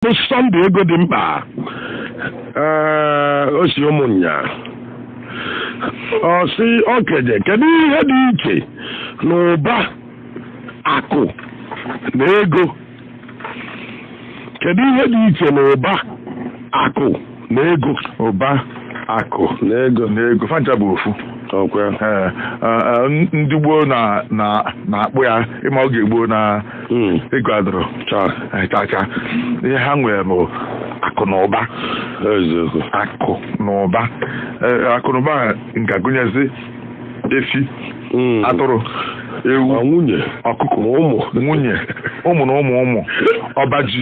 Sunday ego dị mkpa ee o si Ụmụnya ọ sị okenye kedu ihe dị iche na ụba akụ na ego kedu ihe dị iche na ụba akụ na ego ụba akụ na ego na ego fa ncha bụ ofu ọ kwa Ee, a- a, ndị gboo na- na- na-akpọ ya ị ma oge gboo na Mm. ego adịrọ cha chacha ihe ha nwere bụ akụ na ụba eziokwu akụ na ụba Ee, akụ na ụba a nke gụnyezi efi mm. atụrụ ewu nwunye ọkụkọ ụmụ nwunye ụmụ na ụmụ ụmụ ọba ji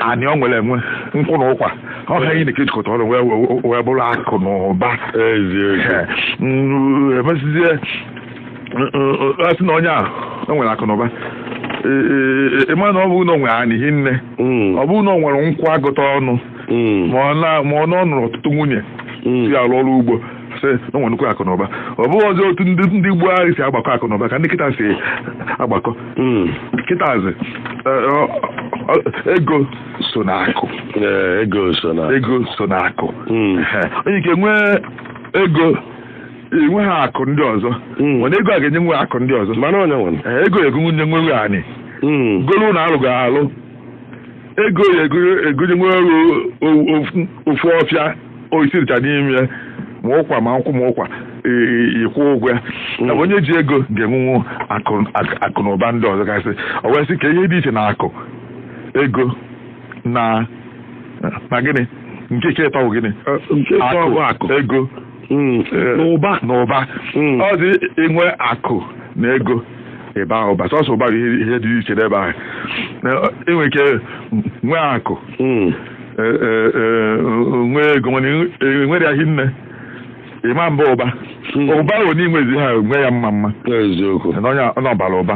anị o nwere enwe nkwụ na ụkwa ọ ha niine ka e jikọtara wee bụrụ akụ na ụba emesizie a sị na onye a o nwere akụ na ụba ị ma na ọ bụrụ na o nwere anị hinne mm. ọ bụrụ na o nwere nkwụ agụta ọnụ mm. ma ọ na ọ nụrụ ọtụtụ nwunye si mm. alụ ọrụ ugbo sị na o nwere nnukwu akụ na ụba ọ bụrọzi otu ndị ndị gboo ahụ si agbakọ akụ na ụba ka ndị kịta si agbakọ Mm. kịtazi eh, ọ- ọ- ego so na akụ Ee, ego so na ego so na akụ Mm. Ehe. o nwe ike nwee ego enweha akụ ndị ọzọ Mm. mana ego a ga-enyenwu akụ ndị ọzọ mana onye nwere Eh, ego egonyenwu anị Mm. golu na alụ ga-alụ ego ya egonyenwu ofu ọfịa osisi dịcha n'ime ya ma ụkwa ma nkwụ ma ụkwa ị kwụọ ụgwọ ya na onye ji ego ga-enwenwu akụ na ụba ndị ọzọ gasị o wee sị ka ihe dị iche na akụ ego na na gịnị nke nke ịtọ bụ gịnị Nke ịtọ bụ akụ. ego Mm, eh, N'ụba. n'ụba Mm. ọ dị i nwee akụ na ego ị baa ụba sọsọ ụba bụ ihe ihe dị iche n'ebe ahụ Na, ọ, i nwe ike nwee akụ Mm. eh, eh, eh, nwee ego mana i nwerọ ya hinne ị ma-aba ụba Mm. ụba ahụ na i nwezi ha nwee ya mma mma Eziokwu. na onye ọ na ọ bara ụba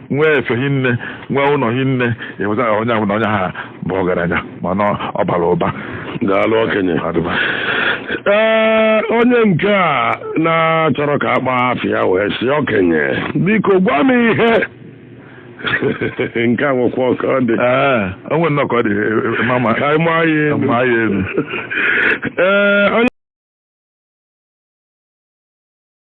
nwee efe hinne nwee ụlọ hinne ị hụta na onye ahụ na onye a bụ ọgaranya ma na ọ bara ụba daalụ okenye Adịba. ee onye nke a na-achọrọ ka a kpọọ afa ya wee sị okenye biko gwa m ihe nke a nwekwa ka ọ dị Ee, o nwere nnọọ ka ọ dị eh, ma ma ka anyị maa ya elu ma ya elu ee onye